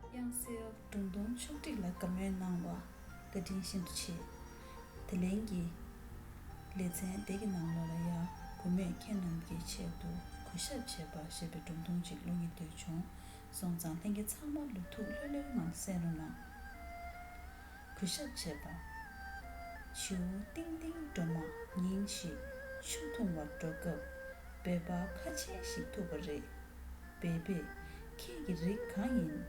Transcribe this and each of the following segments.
དབྱངས་གསལ་སྒྲུང་གདུང་ཕྱོགས་བསྒྲིགས་ལ་དགའ་མོས་གནང་བ་བཀའ་དྲིན་ཤིན་ཏུ་ཆེ། དེ་ལན་གྱི་ལེ་ཚན་འདི་གི་ནང་ལོགས་ལ་ཡང་བུ་མོས་ཁྱེད་རྣམས་ཀྱི་ཆེད་དུ་གོ་ཞབས་བྱེད་པ་ཞེས་པའི་སྒྲུང་ཐུང་ཅིག་ཀློག་མྱི་འདོད་བྱུང་སོང་ཙང་ལྷན་རྒྱས་ཚང་མ་ལུས་ཐུགས་ལྷོད་ལྷོད་ངང་གསན་རུང་གནང། གོ་ཞབས་བྱེད་པ། བྱིའུ་ཏིང་ལྟིང་སྒྲོལ་མ་ཉིན་ཞིག་ཆུ་འཐུང་བར་འགྲོ་སྐབས་འབད་པ་ཁ་ཆེན་ཞིག་ཐུག་པ་རེད། སྦས་པས། ཁྱེད་ཀྱི་རིགས་གང་ཡིན།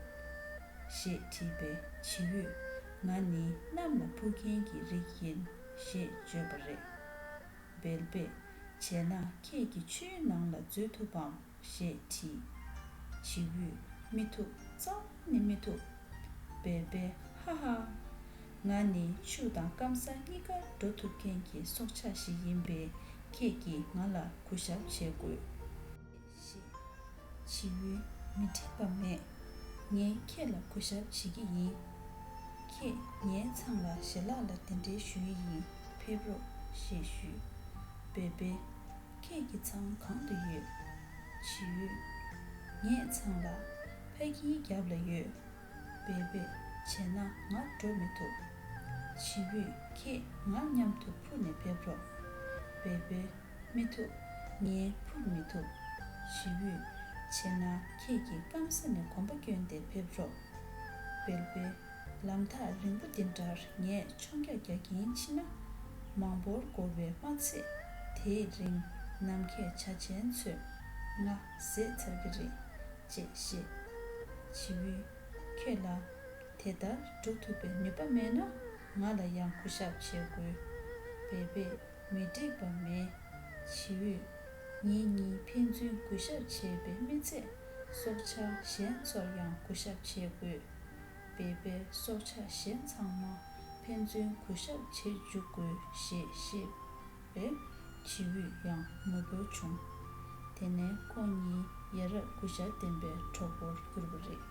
ཞེས་དྲིས་པས་བྱི་ཡུས། ང་ནི་གནམ་ལ་འཕུར་མཁན་གྱི་རིགས་ཡིན། ཞེས་བརྗོད་པ་རེད། སྦལ་པས། བྱས་ན་ཁྱེད་ཀྱིས་ཆུའི་ནང་ལ་འཛུལ་ཐུབ་བམ་ཞེས་དྲིས། བྱི་ཡུས། མི་ཐུབ་གཙང་མ་ནི་མི་ཐུབ། སྦལ་པས། ཧ་ཧ། ང་ནི་ཆུ་དང་སྐམ་ས་གཉིས་ཀར་འགྲོ་ཐུབ་མཁན་གྱི་སྲོག་ཆགས་ཤིག་ཡིན་པས་ཁྱེད་ཀྱིས་ང་ལ་གུས་ཞབས་བྱེད་དགོས། ཞེས་བྱེད་ཡུལ་མི་མཁྲེགས་པ་མེད། ངས་ཁྱེད་ལ་གུས་ཞབས་བྱེད་ཀྱི་ཡིན། ཁྱེད་ངའི་མཚང་ལ་ཞལ་ལག་ལ་དེ་འདྲའི་ཞུ་ཡི་ཡིན་ཕེབས་རོགས་ཞེས་ཞུས། བོད་པས། ཁྱེད་ཀྱི་མཚང་གང་དུ་ཡོད། བྱེད་ཡུལ། ངས་མཚང་ལ། ཕ་གིའི་རྒྱབ་ལ་ཡོད། བོད་པས། བྱས་ན་ང་འགྲོ་མི་ཐུབ། བྱེད་ཡུལ་ཁྱེད་ང་མཉམ་དུ་འཕུར་ནས་ཕེབས་རོགས། བོད་པས། མི་ཐུབ། ངས་འཕུར་མི་ཐུབ། ཞི་བུས། བྱས་ན་ཁྱེད་ཀྱིས་སྐམ་ས་ནས་གོམ་པ་བསྐྱོན་ཏེ་ཕེབས་རོགས། བེར་བེ། ལམ་ཐག་རིང་པོ་འདི་འདྲར་ངས་མཆོང་རྒྱག་རྒྱག་གིན་མཆིས་ན། མང་པོར་འགོར་བའི་སྨྲ་ཚིག་དེའི་རིང་ནམ་མཁས་བྱ་ཅན་ཚོས་ང་བཟས་ཚར་གི་རེད། ཅེས་བཤད། ཞི་བུས། ཁྱོད་ལ། དེ་ལྟར་འགྲོ་ཐུབ་པའི་ནུས་པ་མེད་ན་ང་ལ་ཡང་གུ་ཞབས་བྱེད་དགོས། བེར་བེ། མི་འགྲིག་པ་མེད། བྱིའུས། ངེད་གཉིས་ཕན་ཚུན་གུས་ཞབས་བྱས་པས་མི་ཚད། སྲོག་ཆགས་གཞན་ཚོར་ཡང་གུས་ཞབས་བྱེད་དགོས། བེ་བེ། སྲོག་ཆགས་གཞན་ཚང་མ་ཕན་ཚུན་གུས་ཞབས་བྱེད་འཇུག་དགོས་ཞེས་བཤད། པས། བྱིའུས་ཡང་ངུ་འབོད་བྱུང། དེ་ནས་ཁོ་གཉིས་ཡ་རབས་གུས་ཞབས་ལྡན་པའི་གྲོགས་པོར་གྱུར་པ་རེད།